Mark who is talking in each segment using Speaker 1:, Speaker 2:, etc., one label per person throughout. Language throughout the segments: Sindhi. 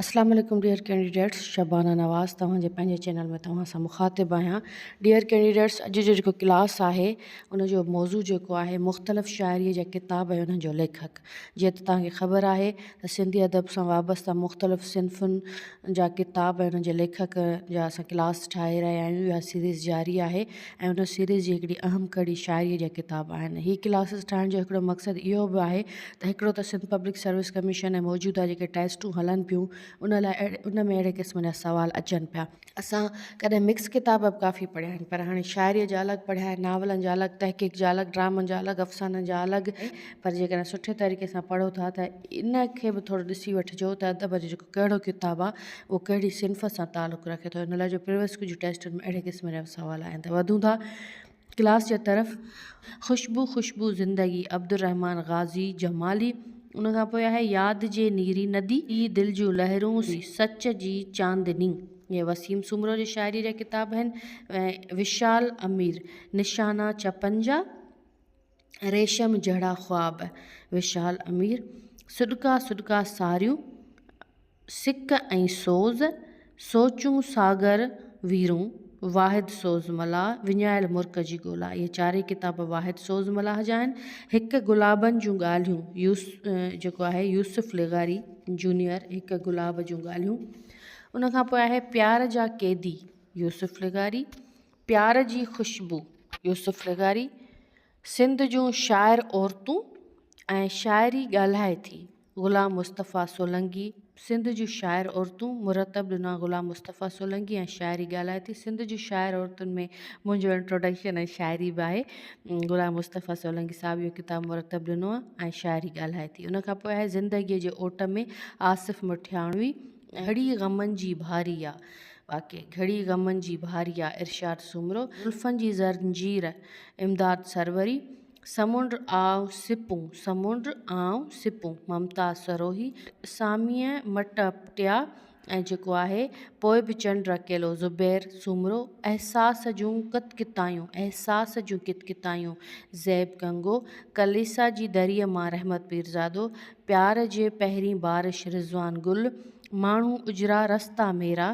Speaker 1: السلام عليڪم ڊيئر ڪينڊيڊيٽس شبانه نواز توهان جي پنهنجي چينل ۾ توهان سان مخاطب آهيان ڊيئر ڪينڊيڊيٽس اڄ جو جيڪو ڪلاس آهي ان جو موضوع جيڪو آهي مختلف شاعري جا ڪتاب ۽ انهن جو ليکڪ جيئن ته توهان کي خبر آهي ته سنڌي ادب سان وابسته مختلف صنفن جا ڪتاب ۽ انهن جي ليکڪ جا اسان ڪلاس ٺاهي رهيا آهيون اها سيريز جاري آهي ۽ ان سيريز جي هڪڙي اهم ڪڙي شاعريء جا ڪتاب آهن. هي ڪلاسز ٺاهڻ جو هڪڙو مقصد اهو به آهي ته هڪڙو ته سنڌ پبلڪ سروس ڪميشن ۽ موجوده جيڪي ٽيسٽون هلن پيون ان لاء ان ۾ اهڙي قسم جا سوال اچن پيا. اسان ڪڏهن مڪس ڪتاب به ڪافي پڙهيا آهن پر هاڻي شاعريء جا الڳ پڙهيا آهن، ناولن جا الڳ، تحقيق جا الڳ، ڊرامن جا الڳ، افسانن جا الڳ ۽ پر جيڪڏهن سٺي طريقي سان پڙهو ٿا ته ان کي به ٿورو ڏسي وٺجو ته ادب جو جيڪو ڪهڙو ڪتاب آ اهو ڪهڙي صنف سان تعلق رکي ٿو ان لاء جو پريويس ڪجهه ٽيسٽن ۾ اهڙي قسم جا سوال آيا آهن ته وڌون ٿا ڪلاس جي طرف خوشبو خوشبو زندگي عبدالرحمان غازي جمالي ان کان پوء آهي ياد جي نيري ندي هي دل جون لهرون هي سچ جي چاندني اهي وسيم سومرو جي شاعري جا ڪتاب آهن ۽ وشال امير نشانا چپن جا ريشم جهڙا خواب، وشال امير، سڏڪا سڏڪا ساريون، سڪ ۽ سوز، سوچون ساگر ويرون، واحد سوز ملاح، وڃايل مرڪ جي ڳولا اهي چارئي ڪتاب واحد سوز ملاح جا آهن. هڪ گلابن جون ڳالهيون يوس جيڪو آهي يوسف لغاري جونيئر هڪ گلاب جون ڳالهيون ان کان پوء آهي پيار جا قيدي يوسف لغاري پيار جي خوشبو يوسف لغاري سنڌ جون شاعر عورتون ۽ شاعري ڳالهائي ٿي غلام مصطفيٰ سولنگي سنڌ جون شاعر عورتون مرتب ڏنا غلام مصطفيٰ سولنگي ۽ شاعري ڳالهائي ٿي سنڌ جون شاعر عورتن ۾ منهنجو انٽروڊڪشن ۽ شاعري به آهي غلام مصطفيٰ سولنگي صاحب اهو ڪتاب مرتب ڏنو آهي ۽ شاعري ڳالهائي ٿي ان کان پوء آهي زندگيء جي اوٽ ۾ آصف مٺياڻوي گهڙي غمن جي ڀاري آ. واقعي گهڙي غمن جي ڀاري آ. ارشاد سومرو، زلفن جي زنجير، امداد سروري، سمنڊ آء سپون، سمنڊ آء سپون، ممتاز سروهي، ساميء مٽ اپٽيا ۽ جيڪو آهي پوء به چنڊ اڪيلو، زبير سومرو، احساس جون ڪت ڪتايون، احساس جون ڪت ڪتايون، زيب گنگو، ڪليسا جي دريء مان رحمت پيرزادو، پيار جي پهرين بارش رضوان گل ماڻهو اجرا رستا ميرا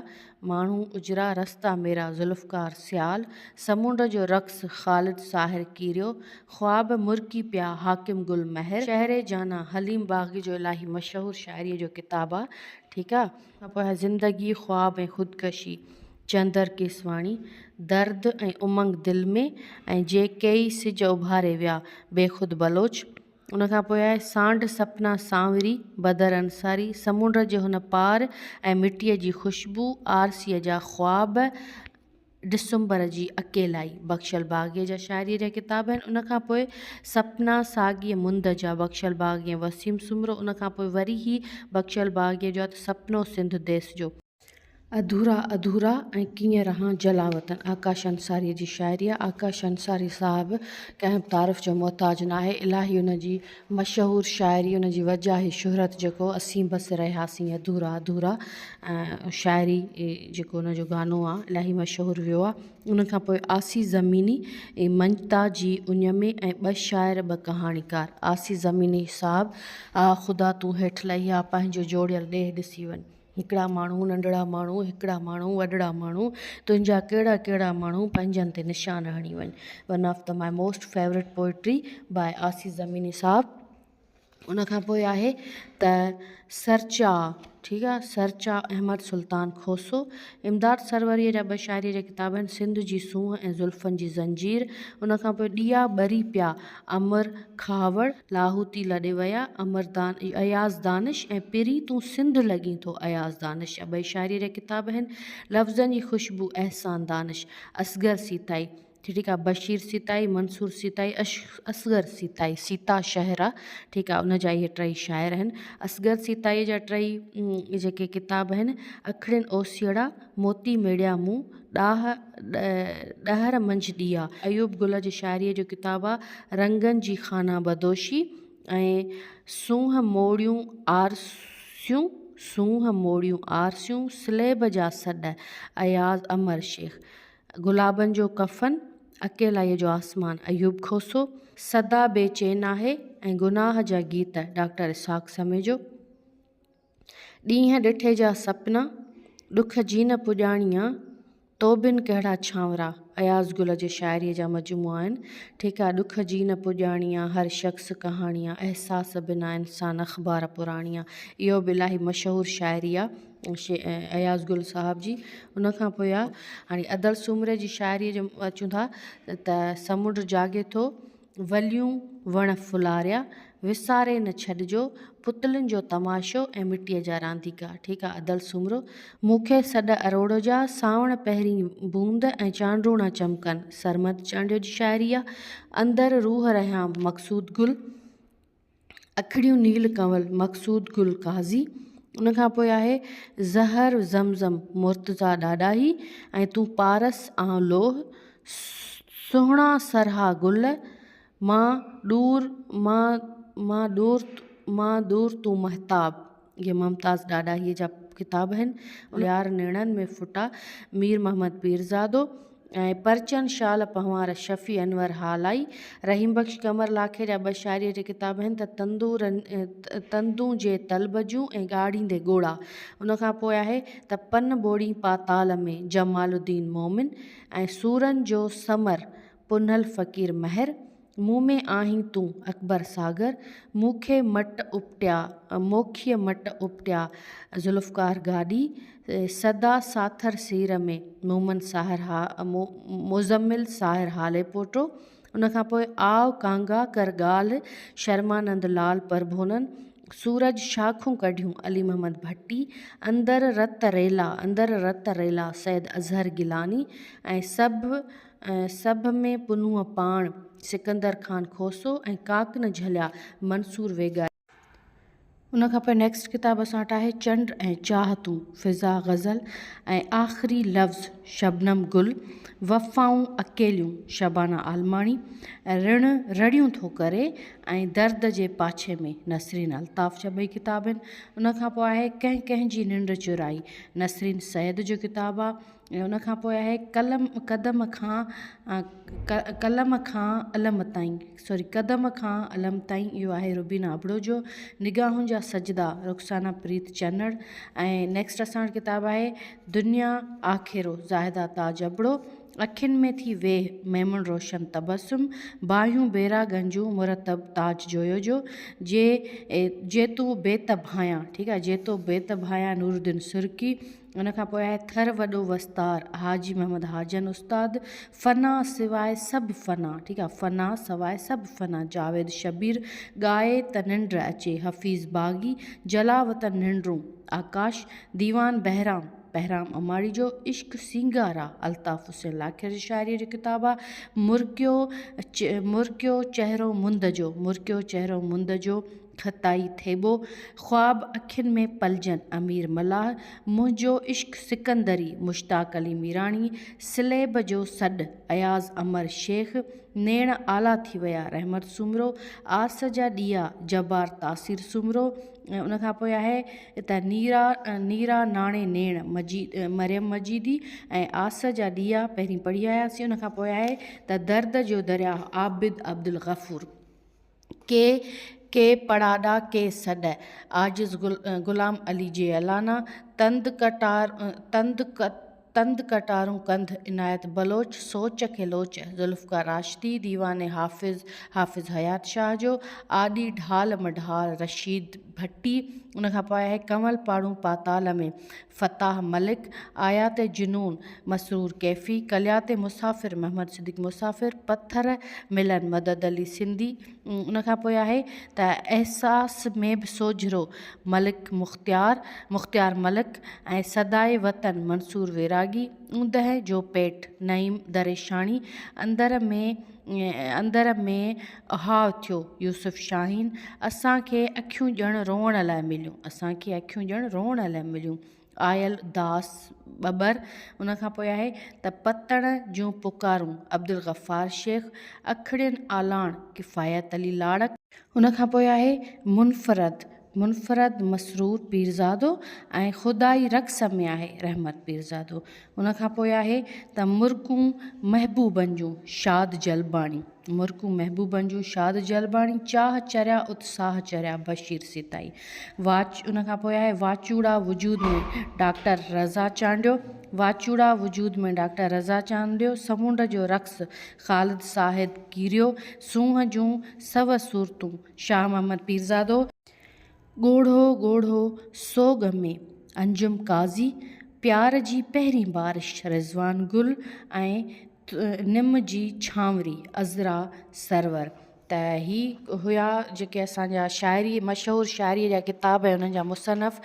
Speaker 1: ماڻهو اجرا رستا ميرا ذوالفقار سيال سمنڊ جو رقص خالد ساحر ڪيريو خواب مرڪي پيا حاڪم گل مهر شهر جانا حليم باغي جو الاهي مشهور شاعريء جو ڪتاب آ ٺيڪ آ. کان پوء آهي زندگي خواب ۽ خودڪشي چندر ڪيسواڻي درد ۽ امنگ دل ۾ ۽ جي ڪيئي سج اڀاري ويا بيخود بلوچ. ان کان پوء آئي سانڍ سپنا سانوري، بدر انصاري، سمنڊ جي هن پار ۽ مٽيء جي خوشبو، آرسيء جا خواب، ڊسمبر جي اڪيلائي. بخشل باغيء جا شاعريء جا ڪتاب آهن. ان کان پوء سپنا ساڳيء مند جا، بخشل باغيء ۽ وسيم سومرو. ان کان پوء وري هي بخشل باغيء جو آهي ته سپنو سنڌ ديس جو. اڌورا اڌورا ۽ ڪيئن رهان جلاوطن آڪاش انصاريء جي شاعري آهي. آڪاش انصاري صاحب ڪنهن به تعارف جو محتاج نه آهي. الاهي ان جي مشهور شاعري ان جي وجهه آهي شهرت جيڪو اسين بس رهياسين اڌورا اڌورا شاعري جيڪو ان جو گانو آهي الاهي مشهور ويو آهي ان کان پوء آسي زميني ۽ منجتا جي اڃ ۾ ۽ ٻه شاعر ٻه ڪهاڻيڪار آسي زميني صاحب آ خدا تون هيٺ لهي آ پنهنجو جوڙيل ڏيهه ڏسي وڃ. هڪڙا ماڻهو ننڍڙا ماڻهو هڪڙا ماڻهو وڏڙا ماڻهو تنهنجا ڪهڙا ڪهڙا ماڻهو پنهنجن تي نشان هڻي وڃ one of the my most favourite poetry by Asif Zamini sahib ان کان پوء آهي ته سرچا ٺيڪ آهي سرچا احمد سلطان کوسو امداد سروريء جا ٻه شاعري جا ڪتاب آهن سنڌ جي سونهن ۽ زلفن جي زنجير ان کان پوء ڏيئا ٻري پيا امر کهاوڙ لاهوتي لڏي ويا، امر دان اياز دانش ۽ پرين تون سنڌ لڳين ٿو اياز دانش ابئي شاعري ري ڪتاب هن لفظن جي خوشبو احسان دانش اصغر سيتائي ٺيڪ آ بشير سيتائي منصور سيتائي اصغر سيتائي سيتا شهر آ ٺيڪ آ ان جا اهي ٽئي شاعر هن اصغر سيتائي جا ٽئي جيڪي ڪتاب هن اکڙين اوسيئڙا موتي ميڙيا مون ڏاهه ڏهر منجهه ڏيئا. ايوب گل جي شاعريء جو ڪتاب آ رنگن جي خانه بدوشي ۽ سونهن موڙيون آرسيون سونهن موڙيون آرسيون سليب جا سڏ اياز امر شيخ گلابن جو ڪفن اڪيلائيء جو آسمان ايوب کوسو صدا بي چين آهي ۽ گناهه جا گيت ڊاڪٽر اسحاق سميجو. ڏينهن ڏٺي جا سپنا، ڏک جي نه پڄاڻيا، تو بن ڪهڙا ڇانورا اياز گل جي شاعريء جا مجموعا آهن. ٺيڪ آهي ڏک جي نه پڄاڻيا، هر شخص ڪهاڻي آ، احساس بنا انسان اخبار پراڻي آ. اهو به الاهي مشهور شاعري آ اياز گل صاحب جي. ان کان پوء آ هاڻي ادل سومري جي شاعريء جو اچون ٿا ته سمنڊ جاڳي ٿو، وليون وڻ ڦلاريا، وساري نه ڇڏجو، پتلين جو تماشو ۽ مٽيء جا رانديڪا. ٺيڪ آ ادل سومرو. مون کي سڏ اروڙ جا، سانوڻ پهرين بوند ۽ چانڊوڻا چمڪن. سرمد چانڊيو جي شاعري آ. اندر روح رهيان مقصود گل. اکڙيون نيل ڪنول مقصود گل قاضي ان کان پوء آهي زهر زمزم مرتضا ڏاڏاهي ۽ تون پارس آئون لوهه سهڻا سرها گل مان ڏور مان مان ڏور مان ڏور تون مهتاب اهي ممتاز ڏاڏاهيء جا ڪتاب آهن، يار نيڻن ۾ ڦٽا، مير محمد پيرزادو ۽ پرچن شال پنهوار شفيع انور هالائي، رحيم بخش قمر لاکي جا ٻه شاعريء جا ڪتاب آهن ته تندورن تندون جي طلب جون ۽ ڳاڙهيندي ڳوڙها. ان کان پوء آهي ته پن ٻوڙين پاتال ۾، جمال الدين مومن ۽ سورن جو سمر، پنهل فقير مهر، مون ۾ آهين تون اڪبر ساگر، مون کي مٽ اپٽيا، موکيء مٽ اپٽيا، ذوالفقار گاڏهي، سدا ساٿر سير ۾، مومن ساهر ها، مزمل ساهر هالي پوٽو، ان کان پوء آء ڪانگا ڪر ڳالهه، شرمانند لال پرڀونن، سورج شاخون ڪڍيون، علي محمد ڀٽي، اندر رت ريلا، اندر رت ريلا، سيد اظهر گيلاني ۽ سڀ. سڀ ۾ پنهون پاڻ، سڪندر خان کوسو ۽ ڪاڪ نه جهليا، منصور ويڳائي. ان کان پوء نيڪسٽ ڪتاب اسان وٽ آهي چنڊ ۽ چاهتون، فضا غزل ۽ آخري لفظ، شبنم گل، وفائون اڪيليون، شبانه عالماڻي، رڻ رڙيون ٿو ڪري ۽ درد جي پاڇي ۾، نسرين الطاف جا ٻئي ڪتاب آهن. ان کان پوء آهي ڪنهن ڪنهن جي ننڊ چرائي، نسرين سيد جو ڪتاب آهي. ۽ ان کان پوء آهي قلم قدم کان قلم کان علم تائين سوري قدم کان علم تائين اهو آهي روبينا ابڙو جو نگاهن جا سجدا رخسانه پريت چنڙ ۽ نيڪسٽ اسان وٽ ڪتاب آهي دنيا آکيرو زاهده تاج ابڙو اکين ۾ ٿي ويهه ميمڻ روشن تبسم باهيون بيرا گنجون مرتب تاج جويو جو جي جي تو بيت ڀانئيان ٺيڪ آهي جي تو بيت ڀانئيان نور الدين سرڪي ان کان پوء آهي ٿر وڏو وستار حاجي محمد حاجن استاد فنا سواء سڀ فنا ٺيڪ آهي فنا سواء سڀ فنا جاويد شبير ڳائي ته ننڊ اچي حفيظ باغي جلاو ته ننڊون آڪاش ديوان بهرام بهرام اماڙي جو عشق سينگار آ الطاف حسين لاکير جي شاعريء جو ڪتاب آ مرڪيو مرڪيو چهرو مند جو مرڪيو چهرو مند جو خطائي ٿيٻو خواب اکين ۾ پلجن امير ملاح منهنجو عشق سڪندري مشتاق علي ميراڻي سليب جو سڏ اياز امر شيخ نيڻ آلا ٿي ويا رحمت سومرو آس جا ڏيئا جبار تاثير سومرو ۽ ان کان پوء آهي ته نيرا نيرا ناڻي نيڻ مجيد مريم مجيدي ۽ آس جا ڏيئا پهرين پڙهي آياسين ان کان پوء آهي ته درد جو درياهه عابد عبدالغفور ڪي ڪي پڙاڏا ڪي سڏ، عاجز غلام علي جيلانا، تند ڪٽار تند تند ڪٽارون ڪنڌ، عنايت بلوچ، سوچ کي لوچ، ذوالفقار راشدي، ديوان حافظ، حافظ حيات شاهه جو، آڏي ڍال مڍال، رشيد ڀٽي، ان کان پوء آهي ڪنول پاڙون پاتال ۾. فتاح ملڪ، آيات جنون، مسرور ڪيفي، ڪليات مسافر، محمد صديق مسافر، پٿر ملن، مدد علي سنڌي، ان کان پوء آهي ته احساس ۾ به سوجهرو، ملڪ مختيار، مختيار ملڪ ۽ صدائي وطن، منصور ويراڳي، اوندهه جو پيٽ، نعيم دريشاڻي، اندر ۾، اندر ۾ اھاء ٿيو يوسف شاھين اسان کي اکيون ڄڻ روئڻ لاء مليون اسان کي اکيون ڄڻ روئڻ لاء مليون آيل داس ٻٻر ان کان پوء آھي ته پتڻ جون پڪارون عبدالغفار شيخ اکڙين آلاڻ ڪفايت علي لاڙڪ ان کان پوء آھي منفرد منفرد مسرور پيرزادو ۽ خدائي رقص ۾ آهي رحمت پيرزادو. ان کان پوء آهي ته مرڪون محبوبن جون شاد جلباڻي، مرڪون محبوبن جون شاد جلباڻي، چاهه چريا ات ساهه چريا بشير سيتائي. واچ ان کان پوء آهي واچوڙا وجود ۾ ڊاڪٽر رضا چانڊيو، واچوڙا وجود ۾ ڊاڪٽر رضا چانڊيو، سمنڊ جو رقص خالد ساهد ڪيريو، سونهن جون سو صورتون، شاهه محمد پيرزادو، ڳوڙهو ڳوڙهو سوڳ ۾، انجم قاضي، پيار جي پهرين بارش، رضوان گل ۽ نم جي ڇانوري، عذرا سرور ته هي هيا جيڪي اسان جا شاعري مشهور شاعري جا ڪتاب ۽ انهن جا مصنف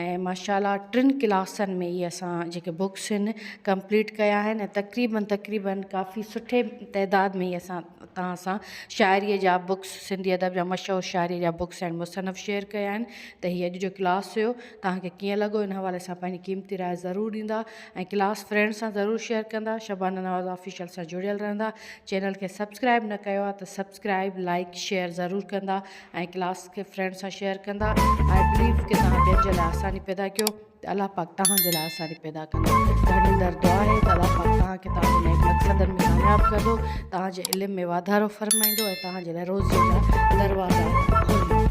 Speaker 1: ۽ ماشاءالله ٽن ڪلاسن ۾ هي اسان جيڪي بوڪس آهن ڪمپليٽ ڪيا آهن ۽ تقريبن تقريبن ڪافي سٺي تعداد ۾ هي اسان اتان اسان شاعريء جا بڪس سنڌي ادب جا مشهور شاعريء جا بڪس ۽ مصنف شيئر ڪيا آهن ته هي اڄ جو ڪلاس هيو توهان کي ڪيئن لڳو ان حوالي سان پنهنجي قيمتي راء ضرور ڏيندا ۽ ڪلاس فرينڊ سان ضرور شيئر ڪندا شبانه نواز آفيشل سان جڙيل رهندا چينل کي سبسڪرائب نه ڪيو آهي ته سبسڪرائب لائڪ شيئر ضرور ڪندا ۽ ڪلاس کي فرينڊ سان شيئر ڪندا آء بليو ڪي توهان ٻين جي لاء آساني پيدا ڪيو ته الله پاڪ توهان جي لاء اسان کي پيدا ڪندو. گهڙيندڙ دعا آهي ته الله پاڪ توهان کي توهان جي نيڪ مقصدن ۾ ڪامياب ڪندو، توهان جي علم ۾ واڌارو فرمائيندو ۽ توهان جي لاء روزيء جا دروازا کوليندو.